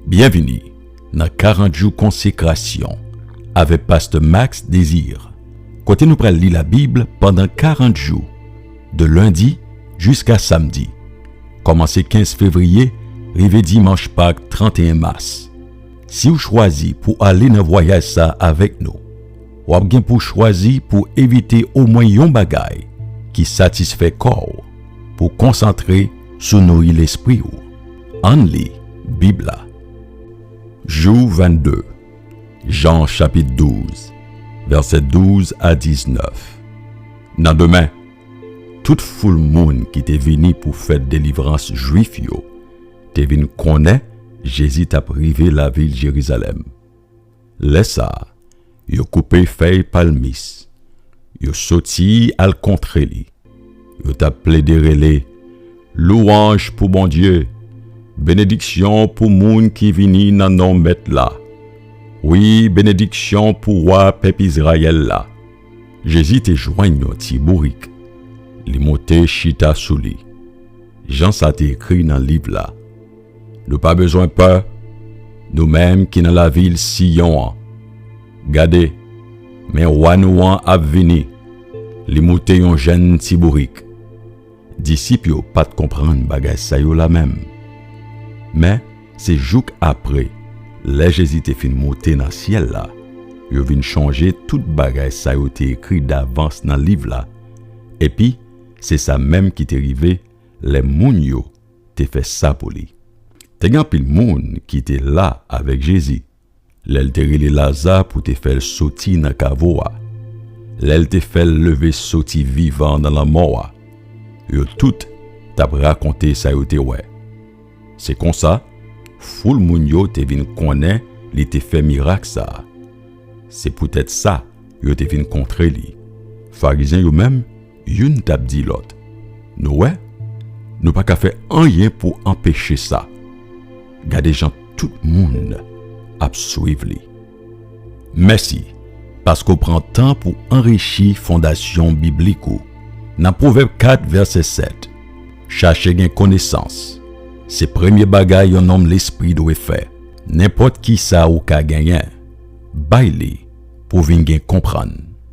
Byenvini nan 40 jou konsekrasyon avèk pastè Max Désir kote nou pral li labib pandan 40 jou de lendi jiska samdi kòmanse 15 fevriye rive dimanch pak 31 mas siw chwazi pou ale nan vwayaj sa avèk nou wap gen pou chwazi pou evite omwen yon bagay ki satisfè kòw pou konsantre sou nouri lespriw. Ann li Bib la. Jou 22 Jan chapit 12 vèsè 12 a 19 Nan demen, tout foul moun ki te vini pou fèt delivrans Juif yo te vin konnen Jezi t ap rive lavil Jerizalèm. Lè sa a, yo koupe fèy palmis, yo soti al kontre li, yo t ap plede rele, Louwanj pou Bondye! Benediksyon pou moun ki vini nan non Mèt la! Wi, benediksyon pou Wa pèp Izrayèl la! Jezi te jwenn yon ti bourik, li monte chita sou li, jan sa te ekri nan liv la. Nou pa bezwen pè, nou menm ki nan lavil Siyon an. Gade, men Wa nou an ap vini, li moute yon jenn ti bourik. Disip yo pa t konprann bagay sa yo la menm. Men, se jouk apre, lè Jezi te fin moute nan syèl la, yo vin chonje tout bagay sa yo te ekri davans nan liv la, epi, se sa menm ki te rive lè moun yo te fè sa pou li. Te gen anpil moun ki te la avèk Jezi lè l te rele Laza pou te fè l soti nan kavo a, lè l te fè l leve soti vivan nan lanmò a. Yo tout t ap rakonte sa yo te wè. Se konsa, foul moun yo te vin konnen li te fè mirak sa a. Se poutèt sa yo te vin kontre li. Farizyen yo menm Youn t ap di lòt, Nou wè, nou pa ka fè anyen pou anpeche sa. Gade jan tout moun ap swiv li. Mèsi paske w pran tan pou anrichi fondasyon biblik ou nan Pwovèb 4, vèsè 7, Chache gen konesans se premye bagay yon nonm lespri dwe fè. Nenpòt kisa ou ka genyen, bay li pou w vin gen konprann.